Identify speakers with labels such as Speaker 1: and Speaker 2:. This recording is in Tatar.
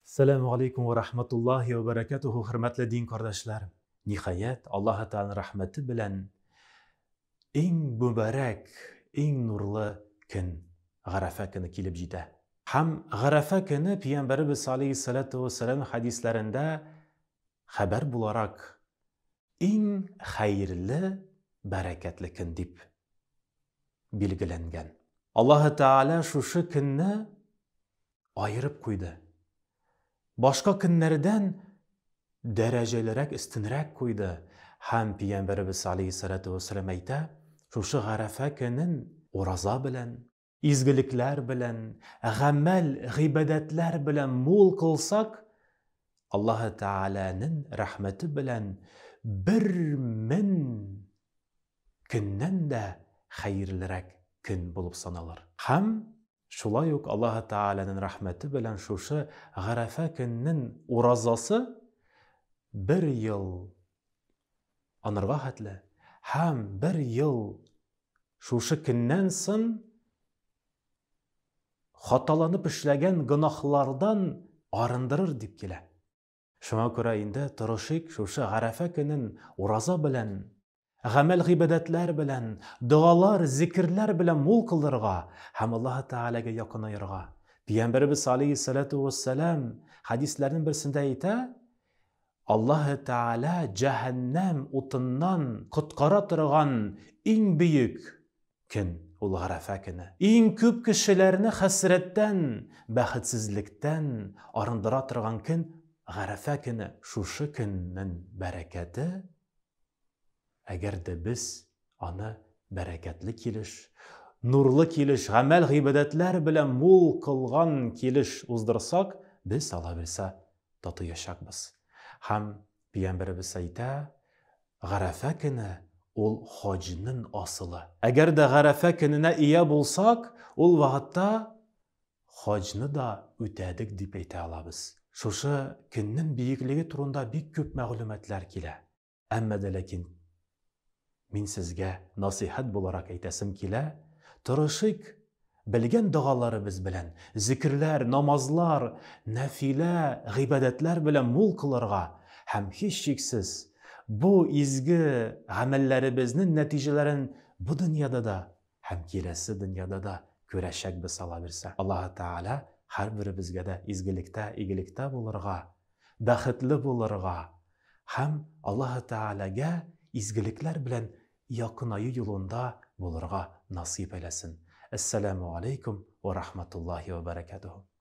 Speaker 1: Сәләмү галәйкүм вә рахматуллаһи вә бәрәкәтүһү хөрмәтле дин кардәшләр! Ниһаять, Аллаһы Тәгаләнең рәхмәте белән иң мөбарәк, иң нурлы көн, Гарәфә көне килеп җитә. Һәм Гарәфә көне Пиямбәребез салейһи саләтү вә сәләм хәдисләрендә хәбәр буларак иң хәерле, бәрәкәтле көн дип билгеләнгән. Аллаһы Тәгалә шушы көнне аерып куйды. Башка көннәрдән дәрәҗәлерәк, өстенрәк куйды. Һәм Пиямбәребез алейһиссалату вәссәлам әйтә, шушы Гарәфә көнен ураза белән, изгелекләр белән, гамәл, гыйбадәтләр белән мул кылсак, Аллаһы Тәгаләнең рәхмәте белән бер мең көннән дә хәерлерәк көн булып саналыр. Һәм шулай ук Аллаһы Тәгаләнең рәхмәте белән шушы Гарәфә көннең уразасы бер ел анырга хәтле һәм бер ел шушы көннән сон хаталанып эшләгән гөнаһлардан арындырыр дип килә. Шуңа күрә инде тырышыйк шушы Гарәфә көнен ураза белән, гамәл-гыйбадәтләр белән, догалар, зикерләр белән мул кылырга һәм Аллаһы Тәгаләгә якынаерга. Пигамбәребез алейһиссәләтү уәссәлам хәдисләрнең берсендә әйтә, Аллаһы Тәгалә җәһәннәм утыннан коткара торган иң бөек Көн, ул Гарәфә көне. Иң күп кешеләрне хәсрәттән, бәхетсезлектән арындыра торган көн, Гарәфә көне. Шушы көннең бәрәкәте, әгәр дә без аны бәрәкәтле килеш, нурлы килеш, гамәл-гыйбадәтләр белән мул кылган килеш уздырсак, без, Аллаһ Буйса, татыячакбыз һәм Пиямбәребез әйтә, Гарәфә көне ул хаҗнын асылы. Әгәр дә Гарәфә көненә ия булсак, ул вагытта хаҗны да үтәдек дип әйтә алабыз. Шушы көннен биеклеге турында бик күп мәгълүматлар килә. Әмма дә ләкин Мин сезгә насыйхәт буларак әйтәсем килә, тырышыйк, белгән догаларыбыз белән, зекерләр, намазлар, нәфилә гыйбадәтләр белән мул кылырга һәм, һичшиксез, бу изге гамәлләребезнең нәтиҗәләрен бу дөньяда да һәм киләсе дөньяда да күрәчәкбез Алла бирсә. Аллаһы Тәгалә һәрберебезгә дә изгелектә, игелектә булырга, бәхетле булырга һәм Аллаһы Тәгаләгә изгелекләр белән якынаю юлында булырга насыйп әйләсен. Әссәләмү аләйкүм вә рахматуллаһи вә бәрәкәтүһү.